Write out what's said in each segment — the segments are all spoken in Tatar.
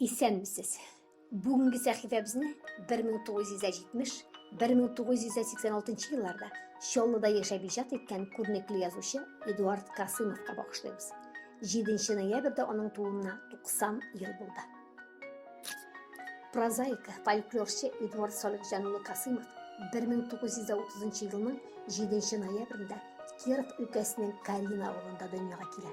Исәнмесез. Бүгенге сәхифәбезне 1970-1986 елларда Чаллыда яшәп иҗат иткән күренекле язучы Эдуард Касымовка багышлыйбыз. 7 ноябрьдә аның тууына 90 ел булды. Прозаик, фольклорчы Эдуард Салихҗан улы Касымов 1930 елның 7 ноябрендә Киров өлкәсенең Карина авылында дөньяга килә.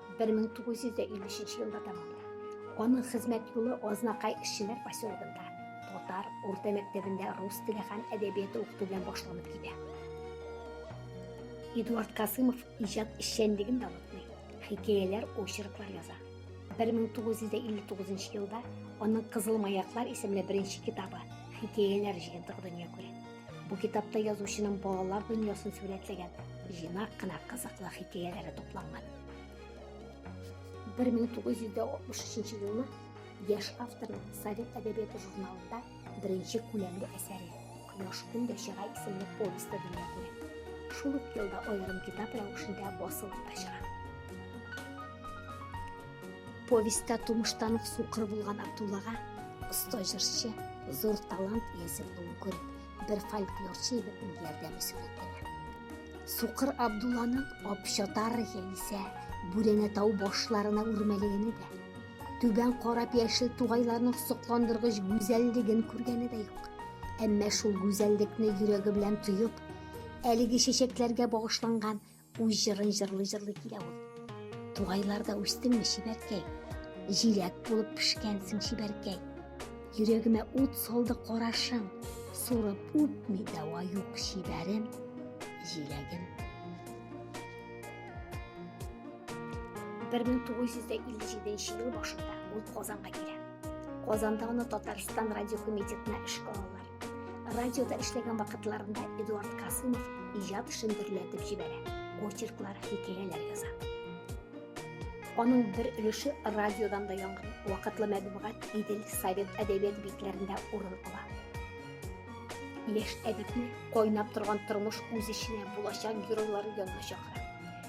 1953 елда тәмамлана. Аның хезмәт юлы Азнакай эшчеләр поселогында татар урта мәктәбендә рус теле һәм әдәбияты укыту белән башланып китә. Эдуард Касымов иҗат эшчәнлеген дә онытмый, хикәяләр, очерклар яза. 1959 елда аның Кызыл маяклар исемле беренче китабы хикәяләр җыентыгы дөнья күрә. Бу китапта язучының балалар дөньясын сүрәтләгән җыйнак кына кызыклы хикәяләре тупланган. 1963 елны яшь авторның Совет әдәбияты журналында беренче күләмле әсәре Кояш көн дә чыга исемле повесте дөнья күрә. Шул ук елда аерым китап рәвешендә басылып та чыга. Повестьта тумыштан ук сукыр булган Абдуллага оста җырчы, зур талант иясе булуын күреп, бер фольклорчы егетнең ярдәме сурәтләнә. Сукыр Абдулланың Апчатар яисә Бүрәнә тау башларына үрмәлегене дә, түбән карап яшел тугайларның сокландыргыч гүзәллеген күргәне дә юк. Әмма шул гүзәллекне йөрәге белән тоеп, әлеге чәчәкләргә багышланган Үз җырын җырлый-җырлый килә ул. Тугайларда үстеңме, чибәркәй? Җиләк булып пешкәнсең, чибәркәй. Йөрәгемә ут салды карашың. Сурып үпми дәва юк, чибәрем, җиләгем. 1957 ел башында ул Казанга килә. Казанда аны Татарстан радиокомитетына эшкә алалар. Радиода эшләгән вакытларында Эдуард Касымов иҗат эшен дөрләтеп җибәрә, очерклар, хикәяләр яза. Аның бер өлеше радиодан да яңгырый. Вакытлы мәдәбият Идел совет әдәбият битләрендә урын ала. Яшь әдипне кайнап торган тормыш үз эченә булачак геройлары янына чакыра.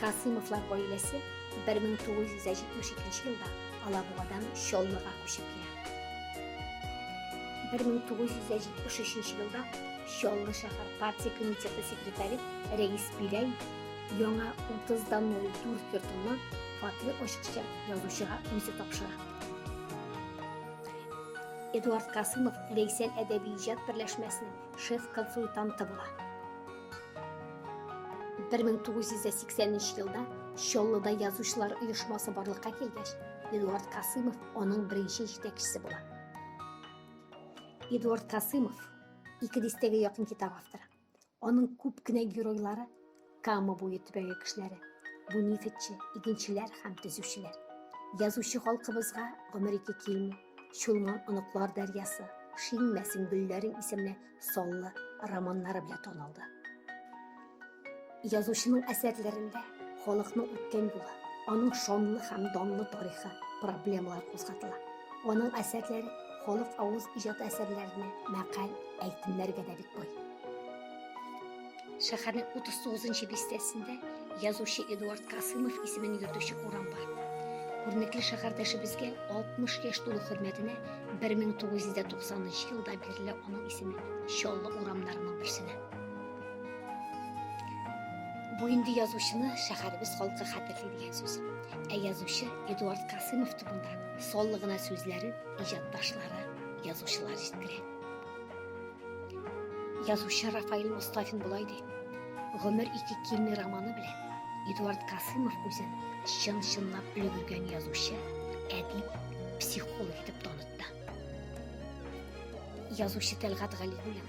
Касыймовлар гаиләсе 1972 елда Алабугадан Чаллыга күчеп килә. 1973 елда Чаллы шәһәр партия комитеты секретаре Рәис Биләй яңа 30 дан 04 йортына фатир ачыкча язучыга үзе тапшыра. Эдуард Касымов Ләйсән әдәби иҗат берләшмәсенең шеф-консультанты була. бер мең тугыз йөз дә сиксәненче елда чаллыда язучылар оешмасы барлыкка килгәч эдуард касымов аның беренче җитәкчесе була эдуард касымов ике дистәгә якын китап авторы аның күп кенә геройлары кама буе төбәге кешеләре бу нефтьче игенчеләр һәм төзүчеләр язучы халкыбызга гомер ике килми Чулман оныклар дәрьясы, Шиңмәсең гөлләрең исемле саллы романнары белән танылды. Язучының әсәрләрендә халыкның үткән юлы, аның шанлы һәм данлы тарихы, проблемалар кузгатыла. Аның әсәрләре халык авыз иҗат әсәрләренә, мәкаль, әйтемнәргә дә бик бай. Шәһәрнең 39 нчы бистәсендә язучы Эдуард Касымов исемен йөртүче урам бар. Күренекле шәһәрдәшебезгә 60 яшь тулу хөрмәтенә 1990 елда бирелә аның исеме Чаллы урамнарының берсенә. Бу инде язучыны шәһәребез халкы хәтерли дигән сүз. Ә язучы Эдуард Касымов турында саллы гына сүзләрен иҗатташлары, язучылар җиткерә. Язучы Рафаил Мостафин болай ди. Гомер ике килми романы белән Эдуард Касымов үзен чын-чынлап өлгергән язучы, әдип, психолог итеп танытты. Язучы Тәлгат Галиуллин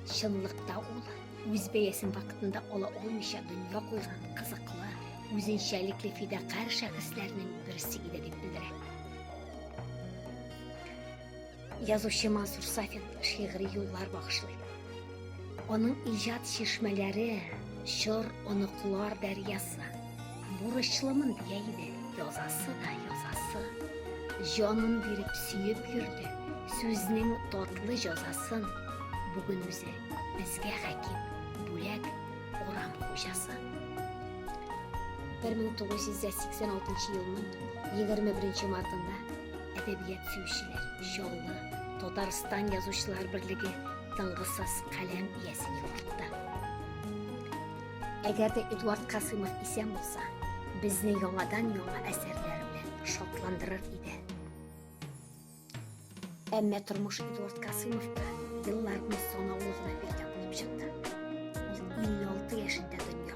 чынлыкта ул үз бәясен вакытында ала алмыйча дөнья куйган кызыклы, үзенчәлекле фидакарь шәхесләрнең берсе иде дип белдерә. Язучы Мансур Сафин шигъри юллар багышлый. Аның иҗат чишмәләре чор оныклар дәрьясы. Бурычлымын дия иде, язасы да язасы. Җанын биреп сөеп йөрде, сүзнең татлы җазасын. Бүген үзе безгә хәким, бүләк урам хуҗасы. 1986 елның 21 мартында Әдәбият сөючеләр, Чаллы, Татарстан язучылар берлеге тынгысыз каләм иясен югалтты. Әгәр дә Эдуард Касымов исән булса, безне яңадан яңа әсәрләр белән шатландырыр иде. Әмма тормыш Эдуард Касымовка елларны санаулы гына биргән булып чыкты. Ул 56 яшендә дөнья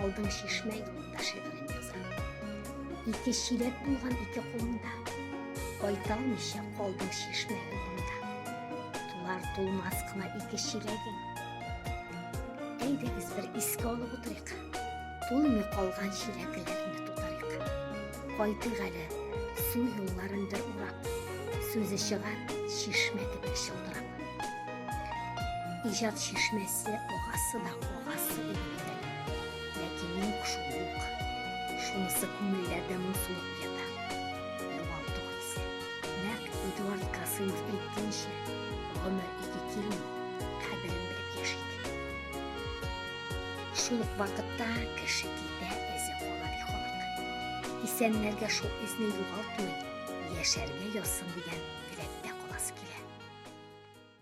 Алдың чишмә юлында шигырен яза. Ике чиләк булган ике кулыңда. Кайталмыйча калдың чишмә юлында. Тулар тулмас кына ике чиләгең. Әйдәгез бер искә алып утырыйк. Тулмый калган чиләкләрне тутырыйк. Кайтыйк әле су юлларын бер урап. Сүзе чыгар чишмә кебек чылтырап. Иҗат чишмәсе агасы да агасы инде. Ләкин юк шул юк. Шунысы күңелләрдә моңсулык ята. Югалту хисе. Нәкъ Эдуард Касымов әйткәнчә, гомер ике килми, кадерен белеп яшик. Шул ук вакытта кеше китә, эзе кала, ди халык. Исәннәргә шул эзне югалтмый, Яшәргә язсын дигән теләктә каласы килә.